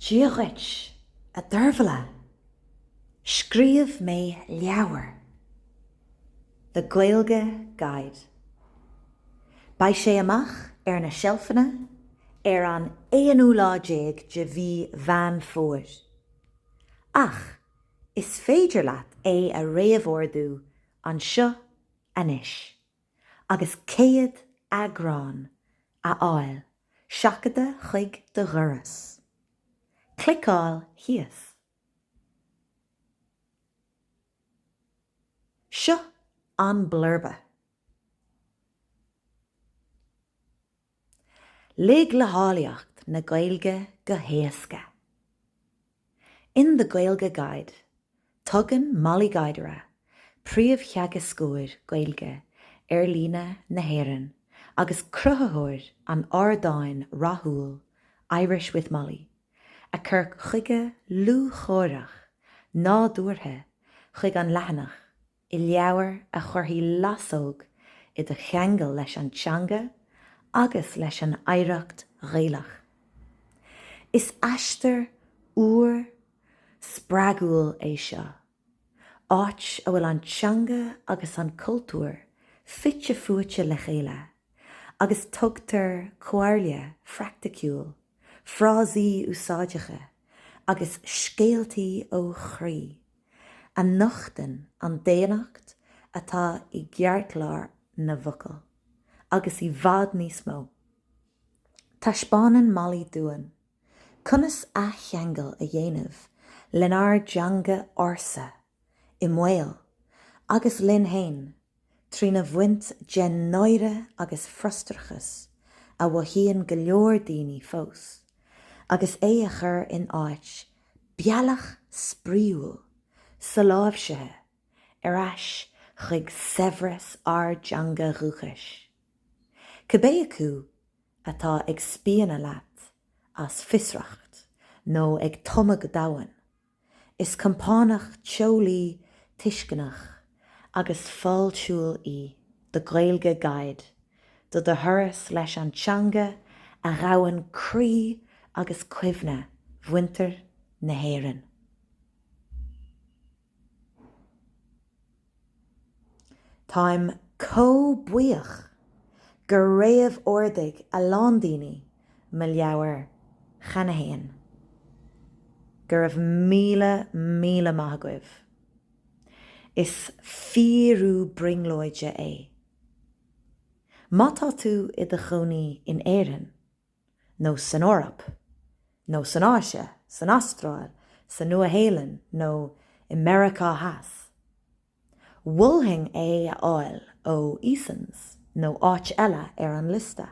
Dia dhuit, a Deirbhile. Scríobh mé leabhar. The Gaeilge Guide. Beidh sé amach ar na seilfeanna ar an aonú lá déag de mhí Mheán Fómhair. Ach is féidir leat é a réamhordú anseo anois. agus céad eagrán a fháil seachadta chuig do dhoras. Cliceáil thíos. Seo an blurba. Lig le háilleacht na Gaeilge go héasca. In The Gaeilge Guide, tugann Mollie Guidera, Príomhtheagascóir Gaeilge Ar Líne na hÉireann agus cruthaitheoir an ardáin rathúil Irish with Mollie, a cur chuige lúcháireach nádúrtha chuig an leathanach. i leabhar a chuirfidh lasóg i do cheangal leis an teanga agus leis an oidhreacht Ghaelach. Is aistear úr, spreagúil é seo, áit a bhfuil an teanga agus an cultúr fite fuaite le chéile agus tugtar comhairle phraicticiúil, frásaí úsáideacha agus scéaltaí ó chroí. a nochtann an daonnacht atá i gceartlár na bhfocal, agus i bhfad níos mó. Taispeánann Mollie dúinn conas athcheangal a dhéanamh lenár dteanga ársa i mbaol agus linn fhéin trína bhaint den náire agus frustrachas a mhothaíonn go leor daoine fós, agus é a chur in áit bealach spraíúil soláimhsithe ar ais chuig saibhreas ár dteanga dhúchais. Cibé acu atá ag spíonadh leat as fiosracht nó ag tumadh go domhain, Is compánach teolaí tuisceanach agus fáiltiúil í The Gaeilge Guide do do thuras leis an teanga a ghabhann croí agus cuimhne mhuintir na hÉireann. Táim chomh buíoch gur réamh-ordaigh a lán daoine mo leabhar cheana fhéin. Go raibh míle, míle maith agaibh. Is fíorú brionglóide é. Má tá tú i do chónaí in Éirinn, nó san Eoraip, nó san Áise, san Astráil, sa Nua-Shéalainn nó i Meiriceá Theas. Mholfainn é a fháil ó Easons nó áit eile ar an liosta.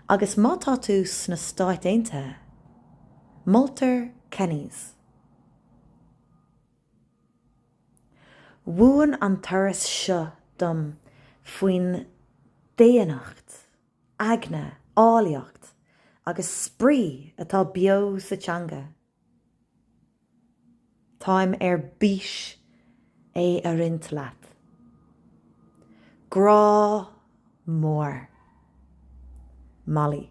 Agus má tá tú sna Stáit Aontaithe, moltar Kenny's. Mhúin an turas seo dom faoin daonnacht. aigne, áilleacht agus spraoi atá beo sa teanga. Táim ar bís é a roinnt leat. Grá mór. Molly.